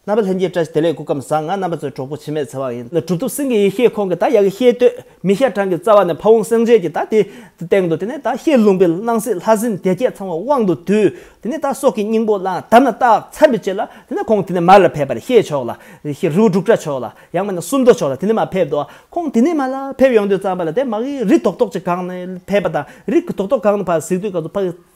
རྣམ་པ་ལྷན་སྐྱེས་བཀྲ་ཤིས་བདེ་ལེགས་སྐུ་ཁམས་བཟང་ང་རྣམ་པ་ཚོའི་གྲོགས་པོ་འཆི་མེད་ཚེ་དབང་ཡིན། གྲུབ་ཐོབ་སེང་གེ་ཡེ་ཤེས་ཁོང་གིས་ད་ཡག་གི་ཤེས་བསྟོད་མི་ཤ་ཀྲང་གི་རྩ་བ་ནས་ཕ་བོང་སེང་ཆེན་གྱི་ད་དེ་སྟེང་དུ་དེ་ནས་ད་ཤེས་ལུང་པའི་སྣང་སྲིད་ལྷ་སྲིན་སྡེ་བརྒྱད་ཚང་བ་དབང་དུ་བསྡུས་དེ་ནས་ད་སྲོག་གི་སྙིང་པོ་བླངས་དམ་ལ་བཏགས་མཚམས་རེ་བཅད་ལ་དེ་ནས་ཁོང་དེ་ནས་མར་ལ་ཕེབས་པར་ཤེས་མཆོག་ལ་ཤེས་རི་བོ་འབྲུག་སྒྲ་མཆོག་ལ་ཡང་མ་ནས་སུམ་མདོ་མཆོག་ལ་དེ་ནས་མར་ཕེབས་དོ་ཁོང་དེ་ནས་མར་ལ་ཕེབས་ཡོང་དུས་རྩམ་པ་ལ་དེ་མ་གིའི་རི་དོག་དོག་ཅིག་གང་ནས་ཕེབས་པ་དང་རི་གི་དོག་དོག་གང་ནས་ཕར་གཟིགས་དུས་ག་ཚོད་ཕ་གི་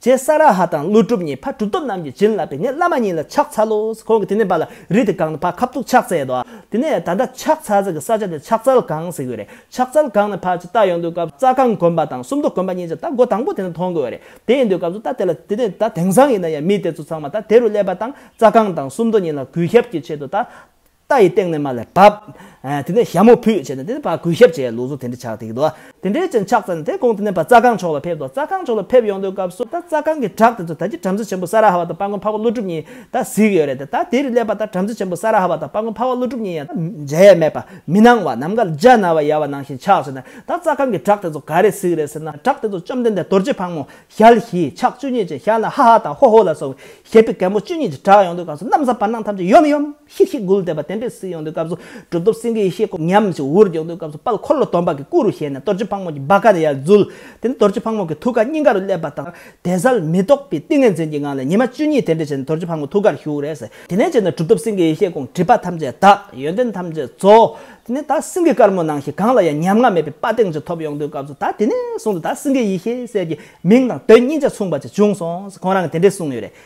ཅེས་ས་ར་ཧ་དང་ཀླུ་སྒྲུབ་གཉིས་ཕ་གྲུབ་ཐོབ་རྣམས་ཀྱིས་བྱིན་བརླབས་པས་ངའི་བླ་མ་གཉིས་ལ་ཕྱག་འཚལ་ལོ། ཁོང་གིས་དེ་ནས་བ་ལ་རི་དེ་གང་ནས་ཕ་ཁ་ཕྲུག་ཕྱག་འཚལ་ཏོ། དེ་ནས་ད་ལྟ་ཕྱག་འཚལ་ཚུལ་གྱི་ས་ཆ་དེ་ཕྱག་འཚལ་གང་ཟེར་གྱི་རེད། ཕྱག་འཚལ་གང་ནས་ཕ་ཅིག་རྟ་ཡོང་དུས་སྐབས་རྩ་ཁང་དགོན་པ་དང་སུམ་མདོ་དགོན་པ་གཉིས་ཀྱི་རྟ་སྒོ་དང་པོ་དེ་ནས་མཐོང་དགོས་རེད། དེ་ཡིན་དུས་སྐབས་སུ་རྟ་དེ་ལ་དེ་ནས་ད་དེང་སང་ཡིན་ན་ཡང་མི་དེ་ཚོ་ཚང་མ་ད་དེ་རུ་སླེབས་པ་དང་རྩ་ཁང་དང་སུམ་མདོ་གཉིས་ལ་གུས་ཞབས་ཀྱི་ཆེད་དུ་ད་རྟ་ཡི་སྟེང་ནས་མ་ལ་བབ། དེ་ནས་ཞྭ་མོ་ཕུད་བྱས་ནས་དེ་ནས་བག་གོས་ཞབས་བཅས་ལུགས་སུ་དེ་འདྲ་ཆགས་ཏེ་ཡོད་དོ། དེ་འདྲའི་ཅན་ཆགས་ཚར་ནས་དེ་གོང་དུ་གནས་པ་རྩ་སྒང་ཕྱོགས་ལ་ཕེབས་ཏོ་རྩ་སྒང་ཕྱོགས་ལ་ཕེབས་ཡོང་དོན་སྐབས་སུ་ད་རྩ་སྒང་གི་བྲག་དེ་ཚོ་ད་ཅི་བྲམ་ཟེ་ཆེན་པོ་ས་ར་ཧ་བ་དང་དཔའ་མགོན་འཕགས་པ་ཀླུ་སྒྲུབ་གཉིས་ད་གཟིགས་ཡོད་རེད་དེ་ད་དེ་རུ་སླེབས་པ་ད་བྲམ་ཟེ་ཆེན་པོ་ས་ར་ཧ་བ་དང་དཔའ་མགོན་འཕགས་པ་ཀླུ་སྒྲུབ་གཉིས་ཡང་མཇལ་ཡས་མེད་པ་མི་སྣང་བ་ནམ་མཁའ་ལ་འཇའ་ན་བ་ཡལ་བ་ནང་བཞིན་ཆགས་བྱས་ནས་ད་རྩ་སྒང་གི་བྲག་དེ་ཚོ་ག་རེ་གཟིགས་རེད་ཟེར་ན་བྲག་དེ་ཚོ་བཅོམ་ལྡན་འདས་རྡོ་རྗེ་ཕག་མོ་ཞལ་བཞི་ཕྱག་བཅུ་གཉིས་ཅན་ཞལ་ན་ཧ་ཧ་དང་ཧོ་ཧོ་ལ་སོགས་པའི་ཞལ་དཔེ་གད་མོ་བཅུ་གཉིས་ཀྱི་བྲག་ཡོང་དོན་སྐབས་སུ་གནམ་ས་བར་སྣང་ཐམས་ཅད་ཡོམ་ཡོམ། ཤིག་ཤིག་འགུལ་བསྟན་པ་དེ་འདྲའི་གཟིགས་ཡོང་དུས་སྐབས་སུ་གྲུབ་ཐོབ་སེང་གེའི་ཤེལ་སྒོ་ཉམས་ཞིག་འུར་རྒྱོག་དུས་སྐབས་སུ་དཔལ་འཁོར་ལོ་དོམ་པ་གི་སྐུ་རུ་ཞལ་ནས་རྡོ་རྗེ་ཕག་མོ་གྱི་བ་ག་ཡར་འཛུལ། དེ་ནས་རྡོ་རྗེ་ཕག་མོ་གི་ཐུགས་ཀ་སྙིང་ག་རུ་སླེབས་པ་དང་དད་གསལ་མི་རྟོག་པའི་ཏིང་ངེ་འཛིན་གྱི་ངང་ལས་ཉི་མ་བཅུ་གཉིས་དེ་འདྲ་བྱས་ནས་རྡོ་རྗེ་ཕག་མོ་ཐུགས་ཀར་ཞུགས་རེས་དེ་ནས་བྱས་ནས་གྲུབ་ཐོབ་སེང་གེའི་ཤེལ་སྒོང་སྒྲིབ་པ་ཐམས་ཅད་དག་ཡོན་ཏན་ཐམས་ཅད་རྫོགས། དེ་ནས་ད་སེང་གེ་དཀར་མོ་ནང་བཞིན་གང་ལ་ཡང་ཉམ་ང་མེད་པའི་དཔའ་གདེང་ཅིག་ཐོབ་ཡོང་དུས་སྐབས་སུ་ད་དེ་ནས་བཟུང་སྟེ་ད་སེང་གེ་ཡི་ཤེས་གསལ་གྱི་མིང་དང་དོན་སྙིང་ཆ་མཚུངས་པ་ཅིག་བྱུང་སོང་ཟེར་ཁོང་རང་གིས་དེ་འདྲས་གསུངས་ཡོད་རེད།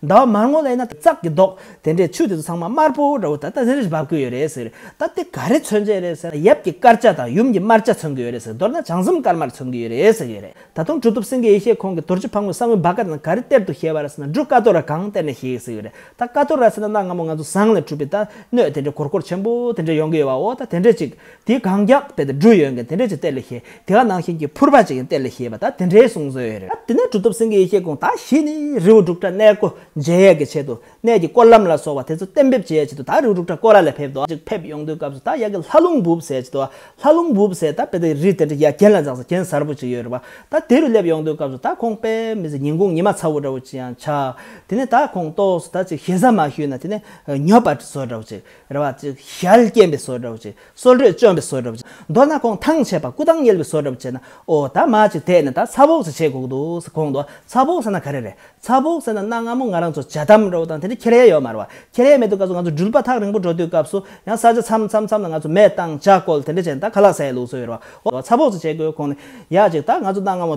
ཟླ་བ་མར་ངོ་ལེན་ན་ཙག་གི་མདོག་དེ་འདྲའི་ཆུ་དེ་ཚོ་ཚང་མ་དམར་པོ་འདྲ་བོ་ད་ལྟ་རིར་བབས་ཀྱི་ཡོད་རེད་ཟེར། ད་དེ་ག་རེ་མཚོན་གྱི་རེད་ཟེར་ན་ཡབ་ཀྱི་དཀར་ཆ་དང་ཡུམ་གྱི་དམར་ཆ་མཚོན་གྱི་ཡོད་རེད་ཟེར་མདོར་ན་བྱང་སེམས་དཀར་དམར་མཚོན་གྱི་ཡོད་རེད་ཟེར་གྱི་རེད་ད་དུང་གྲུ་ཐུབ་སེང་གེ་ཡེ་ཤེས་ཁོང་གིས་དོར་ཅི་ཕག་མོའི་ས་བོན་བ་ཀ་དང་ག་རེ་གཏེར་དུ་ཤེས་པ་ར་ཟེར་ན་འབྲུ་ཀ་ཏོ་ར་གང་གཏེར་ནས་ཤེས་ཟེར་གྱི་རེད་ད་ཀ་ཏོ་ར་ཟེར་ན་གནའ་སྔ་མོ་ང་ཚོ་ཟངས་ལས་གྲུབ་པའི་ད་སྣོད་དེ་འདྲའི་གོར་གོར་ཆེན་པོ་དེ་འདྲ་ཡོང་གི་ཡོད་བ་འོ་ད་དེ་འདྲས་ཅིག་དེ་གང་རྒྱག་པའི་འབྲུ་ཡོད་མཁན་དེ་འདྲས་ཀྱི་གཏེར་ལས་ཤེས། དེ་ག་ནང་བཞིན་གྱི་ཕུར་པ་ཅིག་གི་གཏེར་ལས་ཤེས་པ་དག་དེ་འདྲའི་གསུང་སྲོལ་ཡོད་རེད། དེ་ནས་གྲུབ་ཐོབ་སེང་གེ་ཡེ་ཤེས་གུང་ཐང་ཞིག་ནས་རི་བོ་འབྲུག་སྒྲ་གནས་སྒོ་འབྱེད་ཡས་ཀྱི་ཆེད་དུ་གནས་ཀྱི་སྐོར་ལམ་ལ་སོགས་པ་དེ་ཚོ་གཏན་འབེབས་བྱེད་ཡས་ཆེད་དུ་དག་རི་བོ་འབྲུག་སྒྲ་སྐོར་ལ་ལས་ཕེབས་འདུག་ཅིག་ཕེབས་ཡོང་དུས་སྐབས་སུ་དག་ཡ་གི་ལྷ་ལུང་འབུབས་ཟེར་ཆེད་དུ་ལྷ་ལུང་འབུབས་ཟེར་དག་པའི་དག་རི་དེ་འདྲ་ཡ་གྱེན་ལ་འཛགས་ས་གྱེན་གཟར་བུ་ཅིག་ཡོད་རེད་བ་དག་དེ་རུ་སླེབས་ཡོང་དུས་སྐབས་སུ་དག་ཁོང་པས་མི་ཟེར་ཉིན་གུང་ཉི་མ་ཚ་བོ་འདྲ་བོ་ཅིག་ཡང་ཆགས། དེ་ནས་དག་ཁོང་ལྟོགས་སུ་དག་ཅིག་ཞེ་ས་མ་ཞུས་ན་དེ་ནས་ཉོབ་པ་བཟོ་འདྲ་བོ་ཅིག་རེ་བ་གཅིག་ཞལ་སྐྱེན་པའི་སོ་འདྲ་བོ་བྱས། སོ་འགྲོས་བཅོམ་པའི་སོ་འདྲ་བོ་བྱས། མདོར་ན་གོང་ཐང་ཆད་པ་སྐུ་ཐང་བསྙེལ་བའི་སོ་འདྲ་བོ་བྱས་ན་ཨོ་ད་མ་ཅིག་དེས་ནི་ད་ཚ་བོག་ཟེ་བྱེད་གོག་འདུག་ཟེ་གོང་དུ་ཚ་བོག་ཟེ་ན་ག་རེ་རེད་ཚ་བོག་ཟེ་ན་གནའ་སྔ་མོ་ང་རང་ཚོ་བྱ་དམ་འགྲོ་བ་དང་དེ་འདྲའི་ཁེར་ཡས་ཡོད་མ་རེད་བ་ཁེར་ཡས་མེད་དུས་སྐབས་སུ་ང་ཚོ་འགྲུལ་པ་ཐག་རིང་པོ་འགྲོ་དུས་སྐབས་སུ་ཡང་ས་ཆ་འཚམ་འཚམ་འཚམ་ན་ང་ཚོ་མེ་བཏང་ལྕགས་བཀོལ་དེ་འདྲ་བྱས་ན་ད་ག་ལ་ཟས་ལུགས་སུ་ཡོད་རེད་བ་ཨོ་ད་ཚ་བོག་ཟེ་བྱེད་དགོས་གོང་ནས་ཡག་ཅིག་ད་ང་ཚོ་གནའ་སྔ་མོ།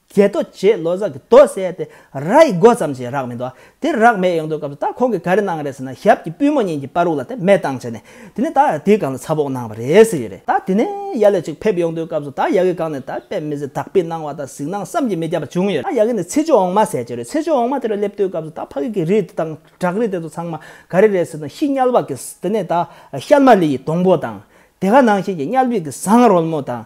རྒྱལ་རྡོ་རྗེས་ལོ་ཙཱ་གི་རྡོ་བསལ་ཏེ་ར་ཡི་སྒོ་ཙམ་གྱི་རག་མི་འདུག་དེར་རག་མེད་ཡོང་དུས་སྐབས་སུ་ད་ཁོང་གིས་ག་རེ་གནང་གི་རེད་ཟེར་ན་ཞབས་ཀྱི་པུས་མོ་གཉིས་ཀྱིས་པར་རུག་ལ་དེ་མེད་བཏང་བྱས་ནས་དེ་ནས་ད་དེའི་སྒང་ལ་ཚ་བོགས་གནང་བ་རེད་ཟེར་གྱི་རེད་ད་དེ་ནས་ཡ་ལེ་ཅིག་ཕེབས་ཡོང་དུས་སྐབས་སུ་ད་ཡ་གི་སྒང་ནས་ད་དཔེ་མི་ཟེར་དག་པའི་སྣང་བ་དང་གཟིགས་སྣང་བསམ་གྱིས་མི་ཁྱབ་པ་བྱུང་ཡོད་ད་ཡ་གི་ནས་ཚེ་ཆུ་འོང་མ་ཟེར་གྱི་རེད་ཚེ་ཆུ་འོང་མ་དེར་སླེབས་དུས་སྐབས་སུ་ད་ཕ་གི་གི་རིགས་དེ་དང་བྲག་རི་དེ་ཚོ་ཚང་མ་ག་རེ་རེད་ཟེར་ན་ཤི་དམྱལ་བ་གིས་དེ་ནས་ད་ཤལ་མ་ལི་ཡི་སྡོང་པོ་དང་དེ་ག་ནང་བཞིན་གྱི་དམྱལ་བི་གི་ཟངས་རོལ་མོ་དང་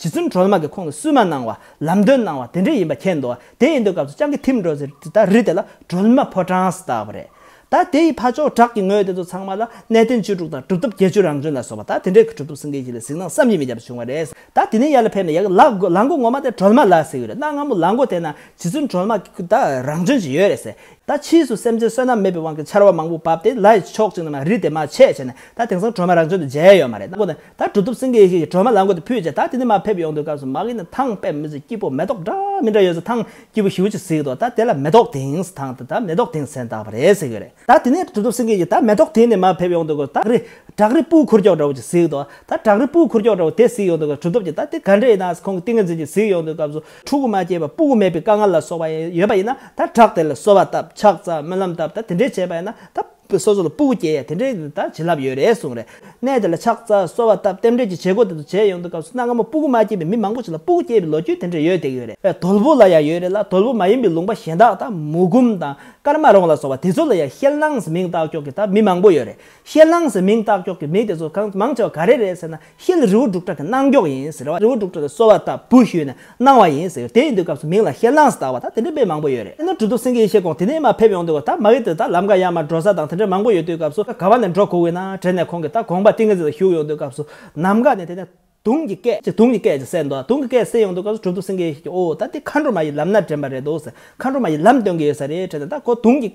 ཇི་བཙུན་གྲོལ་མ་གིས་ཁོང་ལ་བསུན་མ་གནང་བ་ལམ་སྟོན་གནང་བ་དེ་འདྲས་ཡིན་པ་མཁྱེན་འདུག་དེ་ཡིན་དུས་སྐབས་སུ་སྤྱང་ཀི་ཐིམ་འགྲོ་ཟེར་དུས་ད་རི་དེ་ལ་གྲོལ་མ་ཕོ་བྲང་ཟེར་བཏགས་པ་རེད། ད་དེ་ཡི་ཕ་ཅོག་བྲག་གི་ངོས་དེ་ཚོ་ཚང་མ་ལ་གནས་བརྟན་བཅུ་དྲུག་དང་གྲུབ་ཐོབ་བརྒྱད་ཅུ་རང་བྱོན་ལ་སོགས་པ་ད་དེ་འདྲས་ཀྱི་གྲུབ་ཐོབ་སེང་གེ་ཞིག་ལ་གཟིགས་སྣང་བསམ་གྱིས་མི་ཁྱབ་པ་བྱུང་བ་རེད། ད་དེ་ནས་ཡར་ལ་ཕེབས་ནས་ཡ་གི་ལག་མགོ་ངོ་མ་དེ་གྲོལ་མ་ལ་ཟེར་གྱི་རེད་གནའ་སྔ་མོ་ལག་མགོ་དེ་ན་ཇི་བཙུན་གྲོལ་མ་གིས་ད་རང་བྱོན་ཅིག་ཡོད་རེད་ཟེར། ད་ཕྱིས་སུ་སེམས་ཅན་བསོད་ནམས་མེད་པའི་དབང་གིས་ཆར་བ་མང་པོ་བབས་ཏེ་ལ་ཡི་ཕྱོགས་གཅིག་ན་མ་རི་དེ་མ་ཆད་ཆད་ནས་ད་དེང་སང་གྲོལ་མ་རང་བྱོན་དུ་མཇལ་ཡོད་མ་རེད་གནའ་སྒོ་ནས་ད་གྲུབ་ཐོབ་སེང་གེ་ཡེ་ཤེས་ཀྱི་ཁྲོས་མ་ལག་མགོ་དུ་ཕུད་རྗེས་ད་དེ་ནས་མར་ཕེབས་ཡོང་དུས་སྐབས་སུ་མ་གིས་ནི་ཐང་པད་མི་བཟོས་སྐྱིད་པོ་མེ་ཏོག་འདྲ་མི་འདྲ་ཡོད་ཟེར་ཐང་སྐྱིད་པོ་ཞེ་བོ་ཅིག་ཟིག་འདུག་ད་དེ་ལ་མེ་ཏོག་དེངས་ཐང་དུ་ད་མེ་ཏོག་དེངས་ཟེར་འདག་པ་རེད་ཟེར་གི་རེད་ད་དེ་ནས་གྲུབ་ཐོབ་སེང་གེ་ཡིས་ད་མེ་ཏོག་དེངས་ནས་མར་ཕེབས་ཡོང་དུས་སྐབས་སུ་ད་རི་བྲག་རི་སྤུའི་ཁུར་ཀྱོག་འདྲ་བོ་ཅིག་ཟིག་འདུག་ད་བྲག་རི་སྤུའི་ཁུར་ཀྱོག་འདྲ་བོ་དེ་ཟིག་ཡོང་དུས་སྐབས་གྲུབ་ཐོབ་ཀྱིས་ད་དེ་ག་འདྲ་ཡིན་ནའང་ཁོང་གི་ཏིང་ངེ་འཛིན་ཅིག་ཟིག་ཡོང་དུས་སྐབས་སུ་ཕྲུ་གུ་མ་སྐྱེས་པ་སྤུ་གུ་མེད་པའི་དཀའ་ངལ་ལ་སོགས་པ་ཡོད་པ་ཡིན་ན་ད་བྲག་དེ་ལ་གསོལ་བ་བཏབ་ཕྱག་བཙལ་སྨོན་ལམ་བཏབ་ད་དེ་འདྲས་བྱས་པ་ཡིན་ན་ད་པོ་སོ་སོ་ལ་སྤུ་བོ་སྐྱེས་ཡ་དེ་འདྲའི་ད་བྱིན་རླབས་ཡོད་རེད་གསུངས་རེད་གནས་དེ་ལ་ཕྱག་རྩ་གསོལ་བ་བཏབ་རྟེན་འབྲེལ་གྱི་བྱེད་སྒོ་དེ་ཚོ་བྱས་ཡོང་དུས་སྐབས་སུ་གནའ་སྔ་མོ་སྤུ་བོ་མ་སྐྱེས་པའི་མི་མང་པོ་ཞིག་ལ་སྤུ་བོ་སྐྱེས་པའི་ལོ་རྒྱུས་དེ་འདྲའི་ཡོད་དེ་ཡོད་རེད་བས་དོལ་བོ་ལ་ཡང་ཡོད་རེད་ལ་དོལ་བོ་མ་ཡིན་པའི་ལུང་པ་གཞན་དག་དང་མུ་གུམ་དང་དཀར་མ་རོང་ལ་སོགས་པ་དེ་ཚོ་ལ་ཡང་ཤེལ་ནང་སེ་མིང་བཏགས་ཀྱོག་གི་ད་མི་མང་པོ་ཡོད་རེད་ཤེལ་ནང་སེ་མིང་བཏགས་ཀྱོག་གི་མི་དེ་ཚོ་གང་མང་ཆེ་བ་ག་རེ་རེད་ཟེར་ན། ཤེལ་རི་བོ་འབྲུག་གྲགས་ཀྱི་གནང་མགྱོགས་ཡིན་ཟེར་བ་རི་བོ་འབྲུག་གྲགས་ཀྱི་སོ་བ་ལྟ་བུ་ཞུས་ནས་གནང་བ་ཡིན་ཟེར་དེ་ཡིན་དུས་སྐབས་སུ་མིང་ལ་ཤེལ་གནང་ཟེར་བ་དང་དེ་འདྲའི་དཔེ་མང་པོ་ཡོད་རེད་ཡིན་ནའི་གྲུ་ཐོབ་སེང་གེའི་ཤེལ་གོང་དེ་ནས་མ་ཕེབས་ཡོང་དུས་བ་ད་མ་ཡིན་དུས་ད་ལམ་ཀ་ཡ་མ་འགྲོ་ས་དང་དེ་འདྲ་མང་པོ་ཡོད་དུས་སྐབས་སུ་ག་བ་ནས་འགྲོ་གོ་བོའི་ནང་དྲན་ནས་ཁོང་གིས་ད་གོང་པ་ཏིང་ངེ་འཛིན་ལ་བཞུགས་ཡོང་དུས་སྐབས་སུ་ནམ་མཁའ་ནས་དེ་ནས་དུང་གི་སྐད་ཅིག་དུང་གི་སྐད་ཅིག་གསལ་འདུག་དུང་གི་སྐད་གསལ་ཡོང་དུས་སྐབས་སུ་གྲུ་ཐོབ་སེང་གེའི་ཤེལ་གྱིས་ཨོ་ད་འདི་མཁའ་འགྲོ་མ་ཡི་ལམ་སྣ་དྲན་པ་རེད་འདུག་ཟེར་མཁའ་འགྲོ་མ་ཡི་ལམ་སྟོན་གྱི་ཡོད་ས་རེད་དྲན་ནས་ད་ཁོ་དུང་གི་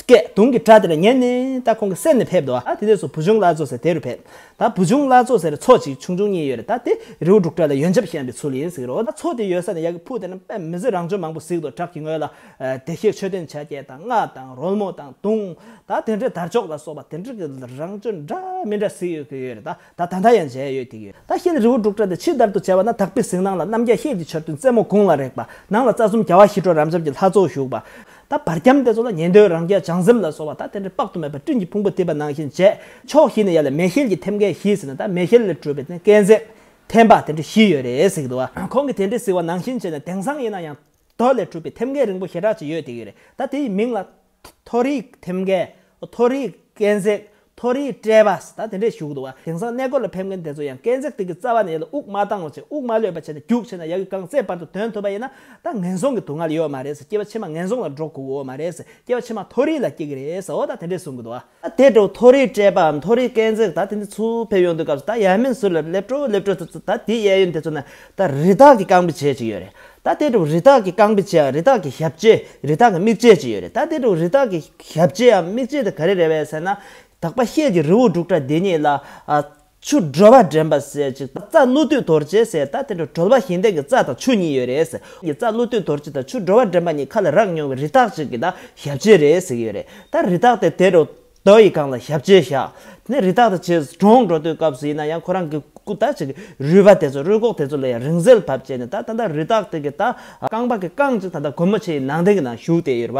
སྐད་གདུང་གི་སྒྲ་དེ་ལ་ཉན་ནས་ད་ཁོང་གི་སེམས་ནས་ཕེབས་འདུག་ཨ་དེ་ནས་བཟུང་བུ་ཆུང་བླ་མཚོ་ཟེར་དེ་རུ་ཕེབས། ད་བུ་ཆུང་བླ་མཚོ་ཟེར་མཚོ་གཅིག་ཆུང་ཆུང་གཉིས་ཡོད་རེད་ད་དེ་རེའུ་འབྲུག་སྒྲ་ལ་ཡོན་ཆབ་ཤན་པའི་ཚུལ་ཡིན་ཟིག་རོ་ད་མཚོ་དེ་ཡོད་ས་ནས་ཡག་གི་ཕུག་དེ་ན་དཔེ་མི་ཟིན་རང་བྱོན་མང་པོ་ཟིག་དོ་བྲག་གི་ངོས་ལ་བདེ་གཤེགས་མཆོད་རྟེན་བྱ་རྒྱལ་དང་སྔགས་དང་རོལ་མོ་དང་གདུང་ད་དེ་འདྲའི་དར་ལྕོག་ལ་སོགས་པ་དེ་འདྲ་གི་རང་བྱོན་འདྲ་མི་འདྲ་ཟིག་ཡོད་གི་ཡོད་རེད་ད། ད་ད་ད་ཡང་མཇལ་ཡོད་དེ་ཡོད་ད་ཤེལ་རི་བོ་འབྲུག་སྒྲ་དེ་ཕྱི་བདར་དུ་བྱས་པ་ན་དག་པའི་གཟིགས་སྣང་ལ་རྣམ་རྒྱལ་ཤེལ་གྱི་ཆར་རྡུལ་རྩེ་མོ་དགུང་ལ་རེག་པ་ནང་ལ་རྩ་གསུམ་རྒྱལ་བ་ཞི་ཁྲོ་རབ་འབྱམས་ཀྱི་ལྷ་ཚོགས་བཞུགས་པ། ད་བར་ཁྱམས་དེ་ཚོ་ལ་ཉན་ཐོས་རང་རྒྱལ་བྱང་སེམས་ལ་སོགས་བ་ད་དེ་འདྲའི་དཔག་ཏུ་མེད་པ་སྤྲིན་གྱི་ཕུང་པོ་གཏིབས་པ་ནང་བཞིན་མཇལ། ཕྱོགས་བཞི་ནས་ཡར་ལ་མེ་ཤེལ་གྱི་ཐེམ་སྐས་བཞི་ཟིན་ན་ད་མེ་ཤེལ་ལས་གྲུབ་པའི་ནི་སྐས་འཛེག། ཐེམ་པ་དེ་འདྲ་བཞི་ཡོད་རེད་གཟིགས་འདུག་ཨ། ཁོང་གིས་དེ་འདྲའི་གཟིགས་བ་ནང་བཞིན་བྱས་ནས་དེང་སང་ཡིན་ན་ཡང། རྡོ་ལས་གྲུབ་པའི་ཐེམ་སྐས་རིང་པོ་ཞེ་དྲག་ཅིག་ཡོད་དེ་ཡོད་རེད་ད་དེ་ཡི་མིང་ལ། མཐོ་རིས་ཐེམ་སྐས། མཐོ་རིས་སྐས་འཛེག། མཐོ་རིས་སྐྲད་པ། ད་དེ་འདྲས་བཞུགས་འདུག་བ། དེང་སང་གནས་སྐོར་ལ་ཕེབས་མཁན་དེ་ཚོ་ཡང་སྐས་འཛེག་སྟེགས་ཀྱི་རྩ་བ་ནས་ཡར་ལ་དབུགས་མ་བཏང་བར་བྱེད་དབུགས་མ་ལོད་པར་བྱས་ནས་རྒྱུགས་ཆེ་ན་ཡར་གྱི་རྐང་རྩེད་བར་དུ་དོན་ཐུབ་པ་ཡིན་ན་ད་ངན་སོང་གི་དུག་སྔར་ཡོད་མ་རེད་ཟེར་སྐྱེ་བ་ཕྱི་མ་ངན་སོང་ལ་འགྲོ་དགོས་མ་རེད་ཟེར་སྐྱེ་བ་ཕྱི་མ་མཐོ་རིས་ལ་སྐྱེ་གི་རེད་ཟེར་འོ་ད་དེ་འདྲས་གསུང་གི་འདུག་བ། ད་དེ་འདྲའོ་མཐོ་རིས་སྤྲས་པའམ་མཐོ་རིས་སྐས་འཛེགས་ད་དེ་འདྲའི་ཚུལ་ཕེབས་ཡོང་དུས་སྐབས་སུ་ད་ཡལ་མིན་ཟུར་ལ་སླེབས་སྤྲོ་སླེབས་སྤྲོ་ཚུལ་ད་དེའི་གཡས་གཡོན་དེ་ཚོ་ན་ད་རི་དྭགས་ཀྱི་རྐང་པའི་བྱེད་ཅིག་ཡོད་རེད་ད་དེ་འདྲའོ་རི་དྭགས་ཀྱི་རྐང་པའི་བྱེད་རི་དྭགས་ཀྱི་ཞབས་བྱེད་རི་དྭགས་ཀྱི་མིག་བྱེད་ཅིག་ཡོད་རེད་ད་དེ་འདྲའོ་རི་དྭགས་ཀྱི་ཞབས་བྱེད་འམ་མིག་བྱེད་དེ་ག་རེ་རེད་བས་ཟེར་ན། དག་པ་ཤེལ་གྱི་རི་བོ་འབྲུག་སྒྲ་དེ་ཉིད་ལ། ཆུ་སྒྲོལ་བ་འདྲེན་པ་ཟས་ཀྱི་རྩ་ཀླུ་བདུད་དོར་བྱེད་ཟེར་ད་དེ་འདྲ་གྲོལ་བ་ཞིང་བརྟན་གྱི་རྩ་དང་ཆུ་གཉིས་ཡོད་རེད་ཟེར་གི་རྩ་ཀླུ་བདུད་དོར་བྱེད་དང་ཆུ་སྒྲོལ་བ་འདྲེན་པ་གཉིས་ཁ་ལ་རག་མྱོང་བའི་རི་དྭགས་ཅིག་གི་ད་ཞབས་རྗེས་རེད་ཟེར་གི་ཡོད་རེད་ད་རི་དྭགས་དེ་དེ་རུ་དོ་ཡི་སྒང་ལ་ཞབས་རྗེས་བཞག་ནས་རི་དྭགས་དེ་བྱེས་གྲོངས་འགྲོ་དུས་སྐབས་སུ་ཡིན་ན་ཡང་ཁོ་རང་གི་སྐུ་ད་ཅིག་གི་རུས་པ་དེ་ཚོ་རུས་གོག་དེ་ཚོ་ལ་ཡང་རིང་བསྲེལ་བབས་བྱས་ནས་ད་ད་ལྟ་རི་དྭགས་དེ་གི་ད་རྐང་པ་གི་རྐང་ཅིག་ད་ད་གོ་མོ་ཆེའི་ནང་གདན་གི་ནང་བཞུགས་ཏེ་ཡོད་རེད་བ་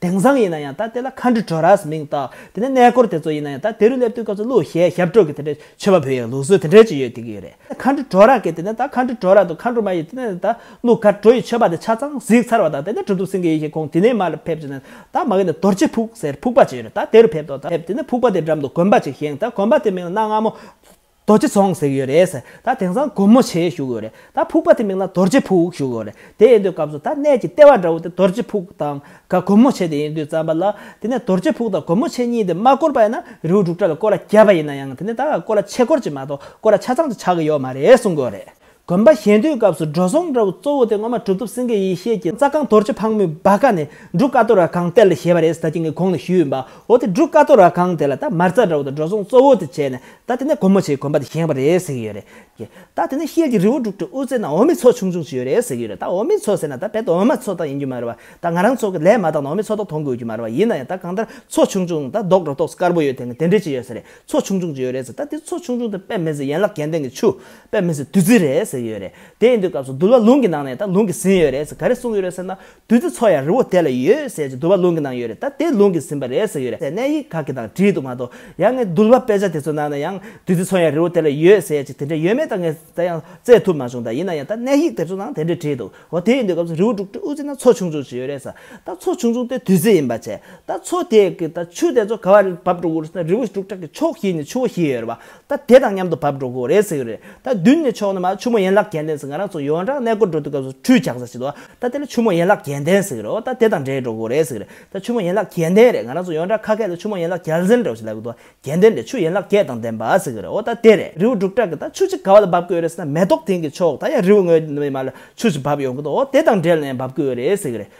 དེང་སང་ཡིན་ན་ཡང་ད་དེ་ལ Country Torahs མིང་བཏགས། དེ་ནས་གནས་སྐོར་དེ་ཚོ་ཡིན་ན་ཡང་ད་དེ་རུ་སླེབས་དུས་སྐབས་སུ་ལུགས་ཞལ་ཞབས་བྲོ་གི་དེ་འདྲའི་མཆོད་པ་འབུལ་ཡང་ལུགས་སྲོལ་དེ་འདྲའི་ཅིག་ཡོད་དེ་གི་ཡོད་རེད། Country Torah གི་དེ་ནས་ད Country Torah དང Country མ་ཡི་དེ་ནས་ད་ལུགས་ཁར་བྲོ་ཡི་མཆོད་པ་དེ་ཆ་ཚང་གཟིགས་ཚར་བ་དང་དེ་ནས་བྲོ་འདུག་ཟིན་གི་ཡིན་ཞེས་ཁོང་དེ་ནས་མར་ལ་ཕེབས་ཅིག་ནས་ད་མ་གི་ནས་དོར་ཅི་ཕུག་ཟེར་ཕུག་པ་ཅིག་ཡོད་རེད་ད་དེ་རུ་ཕེབས་དོ་ད་ཕེབས་དེ་ནས་ཕུག་པ་དེ་འགྲམ་དུ་དགོན་པ་ཅིག་བཞེངས་ད་དགོན་པ་དེ་མིང་ན་སྔ་མོ་རྡོ་རྗེ་ཚོང་ཟེར་གྱི་ཡོད་རེད། ད་དེང་སང་སྒོར་མོ་ཆེ་ཞུགས་ཡོད་རེད། ད་ཕུག་པ་དེ་མིང་ལ་རྡོ་རྗེ་ཕུག་ཞུགས་ཡོད་རེད། དེ་ཡིན་དུས་སྐབས་སུ་ད་གནས་ཀྱི་ལྟེ་བ་འདྲ་བོ་དེ་རྡོ་རྗེ་ཕུག་དང་ག་སྒོར་མོ་ཆེ་དེ་ཡིན་དུས་བརྩམས་པ་ལ། དེ་ནས་རྡོ་རྗེ་ཕུག་དང་སྒོར་མོ་ཆེ་གཉིས་དེ་མ་བསྐོར་བ་ཡིན་ན་རེའུ་འབྲུག་སྒྲ་ལ་བསྐོར་ལ་རྒྱབ་པ་ཡིན་ན་ཡང་དེ་ནས་ད་བསྐོར་ལ་ཆེ་བསྐོར་གྱི་མ་གཏོགས་བསྐོར་ལ་ཆ་ཚང་དུ་ཆགས་ཀྱི་ཡོད་མ་རེད་གསུངས་གི་ཡོད་རེད། དགོན་པ་གཞན་དུས་སྐབས་སུ་འགྲོ་སོང་འདྲ་བོ་གཙོ་བོ་དེ་སྔོན་མ་གྲུབ་ཐོབ་སེང་གེ་ཡེ་ཤེས་ཀྱི་རྩ་རྐང་དོར་ཆུ་ཕག་མོའི་སྦ་ཀ་ནས་འབྲུག་དཀར་དོ་ར་གང་གཏེར་ལ་བཞེས་པ་རེད་ཟེར་ད་ཁྱེད་ཀྱི་གོང་ནས་ཞུས་ཡོད་པ་འོ་དེ་འབྲུག་དཀར་དོ་ར་གང་དེ་ལ་ད་མར་རྩ་འདྲ་བོ་དང་འགྲོ་སོང་གཙོ་བོ་དེ་བྱས་ནས་ད་དེ་ནས་སྒོ་མོ་ཆེའི་དགོན་པ་དེ་བཞེངས་པ་རེད་ཟེར་གྱི་ཡོད་རེད་ཀྱི། ད་དེ་ནས་ཤེལ་གྱི་རི་བོ་འབྲུག་གྲི་དབུ་རྩེ་ན་འོ་མི་ཚོ་ཆུང་ཆུང་ཅིག་ཡོད་རེད་ཟེར་གྱི་ཡོད་རེད་ད་འོ་མི་ཚོ་ཟེར་ན་ད་རྦད་དུ་འོ་མ་ཚོ་དག་ཡིན་རྒྱུ་མ་རེད་བ་ད་ང་རང་ཚོ་གི་ལས་མ་བཏང་ན་འོ་མི་ཚོ་དག་མཐོང་དགོས་རྒྱུ་མ་རེད་བ་ཡིན་ན་ཡང་ད་གང་ལྟར་ཚོ་ཆུང་ཆུང་ད་རྡོག་སྒྲོ་ཐོགས་སུ་དཀར་པོ་ཡོད་དེ་ནི་དེ་འདྲས་ཅིག་ཡོད་ས་རེད་ཚོ་ཆུང་ཆུང་ཅིག་ཡོད་རེད་ཟེར་ད་དེ་ཚོ་ཆུང་ཆུང་དེ་དཔེ་མེད་ཟེར་ཡན་ལག་གྱེན་སྟེང་གི་ཆུ་པའི་མི་ཚོས་བདུད་རྩི་རེད་ཟེར་གྱི་ཡོད་རེད། དེ་ཡིན་དུས་སྐབས་སུ་དུ་བ་ལུང་གི་ནང་ནས་ད་ལུང་གིས་ཟིན་ཡོད་རེད་ཟེར་ག་རེ་གསུངས་ཀྱི་རེད་ཟེར་ན། བདུད་རྩི་ཚོ་ཡང་རི་བོ་དེ་ལ་ཡོད་ཟེར་གྱི་དུ་བ་ལུང་གི་ནང་ཡོད་རེད་ད་དེ་ལུང་གིས་ཟིན་པ་རེད་ཟེར་ཡོད་རེད་ཟེར་གནས་ཡིག་ག་གི་ནང་བྲིས་འདུག་མ་གཏོགས་ཡང་ངས་དུ་བ་དཔེ་ཆ་དེ་ཚོའི་ནང་ན་ཡང་བདུད་རྩི་ཚོ་ཡང་རི་བོ་དེ་ལ་ཡོད་ཟེར་གྱི་དེ་འདྲ་ཡོད་མེད་ད་ངས་ད་ཡང་བཙལ་ཐུབ་མ་བྱུང་ད་ཡིན་ན་ཡང་ད་གནས་ཡིག་དེ་ཚོའི་ནང་དེ་འདྲས་བྲིས་འདུག་འོ་དེ་ཡིན་དུས་སྐབས་སུ་རི་བོ་འབྲུག་སྤྲུལ་དབུ་རྩེ་ན་ཚོ་ཆུང་ཆུང་ཞིག་ཡོད་རེད་ཟེར་ད་ཚོ་ཆུང་ཆུང་དེ་བདུད་རྩི་ཡིན་པ་བྱས་ད་ཚོ་དེ་གི་ད་ཆུ་དེ་ཚོ་ག་བ་རེ་བབས་འགྲོ་དགོས་རེད་ཟེར་ན་རི་བོ་འབྲུག་གྲགས་ཀྱི་ཕྱོགས་བཞི་ནས་ཆུ་བོ་བཞི་ཡོད་རེད་བ། ད་དེ་དང་མཉམ་དུ་བབས་འགྲོ་གི་རེད་ཟེར་གི་རེད། ད་མདུན་ནས་ཕྱོགས་ནས་མ་ཆུ་མོ་ཡན་ལག་གྱེན་ལྡན་ཟེར་ང་རང་ཚོ་ཡོངས་གྲགས་གནས་སྐོར་འགྲོ་དུས་སྐབས་སུ་ཁྲུས་བྱང་ས་ཞིག་འདུག་ད་དེ་ལ་ཆུ་མོ་ཡན་ལག་གྱེན་ལྡན་ཟེར་གི་རེད་འོ་ད་དེ་དང་འདྲེས་འགྲོ་གི་རེད་ཟེར་གི་རེད་ད་ཆུ་མོ་ཡན་ལག་གྱེན་ལྡན་རེད་ང་རང་ཚོ་ཡོངས་གྲགས་ཁ་སྐད་ལ་ཆུ་མོ་ཡན་ལག་གྱལ་འཛིན་འདྲ་བོ་ཞིག་ལབ་གི་འདུག་གྱལ་ལྡན་འདྲེ་ཆུ་ཡན་ལག་གྱལ་དང་ལྡན་པ་ཟེར་གི་རེད་འོ་ད་དེ་རེད་རི་བོ་འབྲུག་གྲགས་གི་ད་ཆུ་གཅིག་ག་བ་ལ་འབབ་གི་ཡོད་རེད་ཟེར་ན་མེ་ཏོག་དེང་གི་ཆོག་ད་ཡང་རི་བོ་ངོས་ནས་མ་ལ་ཆུ་ཞིག་བབས་ཡོང་གི་འདུག་འོ་དེ་དང་འབྲེལ་ནས་ཡང་འབབ་གི་ཡོད་རེད་ཟེར་གི་རེད་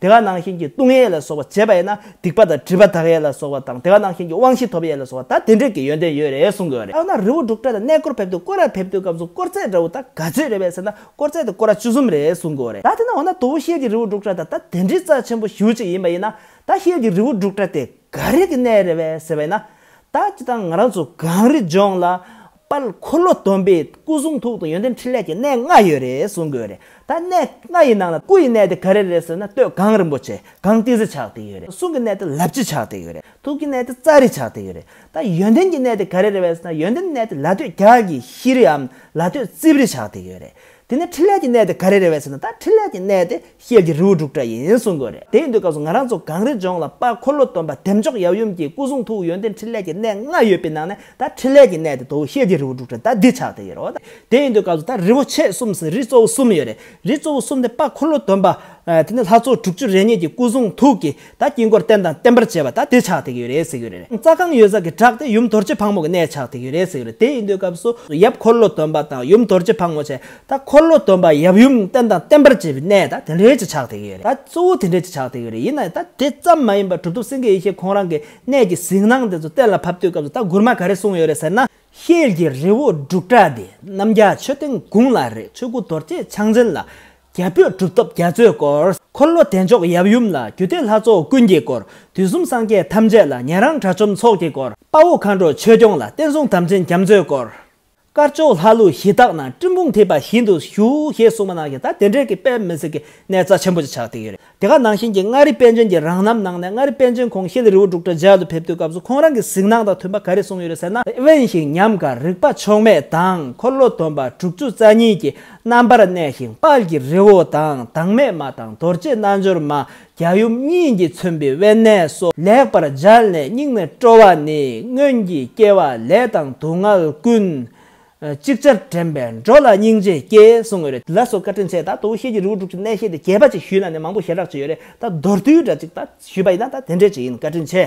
དེ་ཁ་ནང་བཞིན་གྱི་ལྟུང་ཡས་ལ་སོགས་པ་བྱེད་པ་ཡིན་ན་སྡིག་པ་དང་སྒྲིབ་པ་དག་ཡས་ལ་སོགས་པ་དང་དེ་ཁ་ནང་བཞིན་གྱི་དབང་བཞི་ཐོབ་ཡས་ལ་སོགས་པ་དག་དེ་འབྲེལ་གྱི་ཡོན་ཏན་ཡོད་རེད་གསུང་གི་རེད། ཨ་ན་རི་བོ་འབྲུག་སྒྲ་དང་གནས་སྐོར་ཕེབས་དུས་བསྐོར་ར་ཕེབས་དུས་སྐབས་སུ་སྐོར་ཚད་འདྲ་བོ་དག་ག་ཚོད་རེད་བས་ཟེར་ན་སྐོར་ཚད་དེ་སྐོར་ར་བཅུ་གསུམ་རེད་གསུང་གི་རེད་ད་དེ་ན་འོ་ན་དོ་བོ་ཤེལ་གྱི་རི་བོ་འབྲུག་སྒྲ་དང་ད་དེ་འདྲའི་རྩ་ཆེན་པོ་ཞུ་གཅིག་ཡིན་པ་ཡིན་ན་ད་ཤེལ་གྱི་རི་བོ་འབྲུག་སྒྲ་དེ་ག་རིགས་ཀྱི་གནས་རེད་བས་ཟེར་བ་ཡིན་ན་ད་ཅི་ད་ང་རང་ཚོ་གངས་རི་ལྗོངས་ལ་པར་འཁོར་ལོ་སྡོམ་པའི་སྐུ་གསུང་ཐུགས་དང་ཡོན་ཏན་འཕྲིན་ལས་ཀྱི་གནས་ལྔ་ཡོད་རེད་གསུང་དགོས་རེད་ད་གནས་ལྔ་ཡི་ནང་ལ་སྐུ་ཡི་གནས་དེ་ག་རེ་རེད་ཟེར་ན་སྟོད་གངས་རིན་པོ་ཆེ་གངས་ཏི་སེ་ཆགས་ཏེ་ཡོད་རེད་གསུང་གི་གནས་དེ་ལབ་ཅི་ཆགས་ཏེ་ཡོད་རེད་ཐུགས་ཀྱི་གནས་དེ་རྩ་རི་ཆགས་ཏེ་ཡོད་རེད་ད་ཡོན་ཏན་གྱི་གནས་དེ་ག་རེ་རེད་བས་ཟེར་ན་ཡོན་ཏན་གནས་དེ་ལ་སྟོད་རྒྱ་གི་ཤི་རིའམ་ལ་སྟོད་རྩིབས་རི་ཆགས་ཏེ་ཡོད་རེད་དེ་ནི་འཕྲིན་ལས་ཀྱི་གནས་དེ་ག་རེ་རེད་བས་ཟེར་ན་ད་འཕྲིན་ལས་ཀྱི་གནས་དེ་ཤེལ་གྱི་རི་བོ་འབྲུག་སྒྲ་ཡིན་གསུང་དགོས་རེད་དེ་ཡིན་དུས་སྐབས་སུ་ང་རང་ཚོ་གངས་རི་ལྗོངས་ལ་དཔའ་འཁོར་ལོ་སྟོན་པ་བདེ་མཆོག་ཡབ་ཡུམ་གྱི་སྐུ་གསུང་ཐུགས་ཡོན་ཏན་འཕྲིན་ལས་ཀྱི་གནས་ལྔ་ཡོད་པའི་ནང་ནས་ད་འཕྲིན་ལས་ཀྱི་གནས་དེ་དོ་བོ་ཤེལ་གྱི་རི་བོ་འབྲུག་སྒྲ་ད་འདི་ཆགས་དེ་ཡོད་རོ། དེ་ཡིན་དུས་སྐབས་སུ་ད་རི་བོ་ཆེ་གསུམ་ཟེར་རི་གཙོ་བོ་གསུམ་ཡོད་རེད་རི་གཙོ་བོ་གསུམ་དེ་དཔའ་འཁོར་ལོ་སྟོན་པ་དེ་ནི་ལྷ་ཚོགས་དྲུག་ཅུ་རེ་གཉིས་ཀྱི་སྐུ་གསུང་ཐུགས་ཀྱི་ད་དཀྱིལ་འཁོར་རྟེན་དང་བརྟེན་པར་བྱེད་པ་ད་དེ་ཆགས་ཐིག་ཡོད་རེད་ཟེར་གྱི་རེད། རྩ་ཁང་ཡོད་ས་གི་བྲག་དེ་ཡུམ་དོར་བྱེད་ཕག་མོ་གི་གནས་ཆགས་ཐིག་ཡོད་རེད་ཟེར་གྱི་རེད་དེ་ཡིན་དུས་སྐབས་སུ་ཡབ་འཁོར་ལོ་དོན་པ་དང་ཡུམ་དོར་བྱེད་ཕག་མོ་བྱས་ད་འཁོར་ལོ་དོན་པ་ཡབ་ཡུམ་རྟེན་དང་བརྟེན་པར་བྱེད་པའི་གནས་ད་དེ་འདྲའི་ཆེ་ཆགས་ཐིག་ཡོད་རེད་ད་གཙོ་བོ་དེ་འདྲའི་ཆེ་ཆགས་ཐིག་ཡོད་རེད་ཡིན་ན་ད་དེ་ཙམ་མ་ཡིན་པར་གྲུབ་ཐོབ་སེང་གེ་ཡེ་ཤེས་ཁོང་རང་གི་གནས་ཀྱི་གཟིགས་སྣང་དེ་ཚོ་གཏན་ལ་ཕབ་དུས་སྐབས་སུ་ད་མགུར་མ་ག་རེ་གསུངས་ཡོད་རེད་ཟེར་ན། ཤེལ་གྱི་རི་བོ་འབྲུག་གྲགས་འདི་རྣམ་རྒྱལ་མཆོད་རྟེན་དགུང་ལ་རེད་ཆོས་སྐུ་དོར་བྱེད་ཕྱག་མཚན་ལ། རྒྱ་བོད་གྲུབ་ཐོབ་རྒྱ་མཚོའི་སྐོར། འཁོར་ལོ་བདེ་མཆོག་ཡབ་ཡུམ་ལ། རྒྱུད་སྡེ་ལྷ་ཚོགས་ཀུན་གྱི་སྐོར། དུས་གསུམ་སངས་རྒྱས་ཐམས་ཅད་ལ། ཉན་རང་དགྲ་བཅོམ་ཚོགས་ཀྱི་སྐོར། དཔའ་བོ་མཁའ་འགྲོ་ཆོས་སྐྱོང་ལ། བསྟན་སྲུང་དམ་ཅན་རྒྱ་མཚོའི་སྐོར། དཀར་ཕྱོགས་ལྷ་ཀླུ་གཞི་བདག་རྣམས། སྤྲིན་ཕུང་ཐིབས་པ་བཞིན་དུ་བཞུགས། ཞེས་གསུངས་པ་ནང་བཞིན་ད་དེ་འབྲེལ་གྱི་དཔེ་མི་སྲིད་ཀྱི་གནས་རྩ་ཆེན་པོ་ཅིག་ཆགས་བསྡད་ཡོད་རེད། དེ་ག་ནང་བཞིན་གྱི་མངའ་རིས་དཔལ་འབྱོན་གྱི་རང་རྣམ་ནང་ནས་མངའ་རིས་དཔལ་འབྱོན་ཁོང་ཤེལ་རི་བོ་འབྲུག་གྲ་རྒྱལ་དུ་ཕེབས་དུས་སྐབས་སུ་ཁོང་རང་གི་གཟིགས་སྣང་དང་མཐུན་པ་ག་རེ་གསུངས་ཡོད་རེད་ཟེར་ན། དབེན་ཞིང་ཉམས་དགའ་རིག་པ་ཕྱོགས་མེད་དང་འཁོར་ལོ་སྡོམ་པ་དྲུག་ཅུ་རྩ་གཉིས་ཀྱི་རྣམ་པར་གནས་ཤིང་དཔལ་གྱི་རི་བོ་དང་དྭངས་མའི་མ་དང་རྡོ་རྗེ་རྣལ་འབྱོར་མ་རྒྱ་ཡུམ་གཉིས་ཀྱིས་མཚོན་པའི་དབེན་གནས་སོ། ལེགས་པར་སྦྱར་ནས་སྙིང་ནས་སྤྲོ་བ་ནི་སྔོན་གྱི་སྐྱེ་བ་ལས་དང་སྡུག་བསྔལ་ཀུན། ཅིག་ཅར་དྲན་པས་འགྲོ་ལ་སྙིང་རྗེ་སྐྱེ་གསུང་ངོ་རེ་ལ་སོགས་བཀའ་དྲིན་ཆེ་ད་དོ་ཤེས་ཀྱི་རི་བོ་འབྲུག་གི་གནས་ཤེས་ཏེ་གྱེས་པ་ཅིག་ཞུས་ན་ནི་མང་པོ་ཞེ་དྲག་ཅིག་ཡོད་རེད་ད་མདོར་བསྡུས་འདྲ་ཅིག་ད་ཞུས་པ་ཡིན་ན་ད་དེ་འདྲས་ཅིག་ཡིན་བཀའ་དྲིན་ཆེ།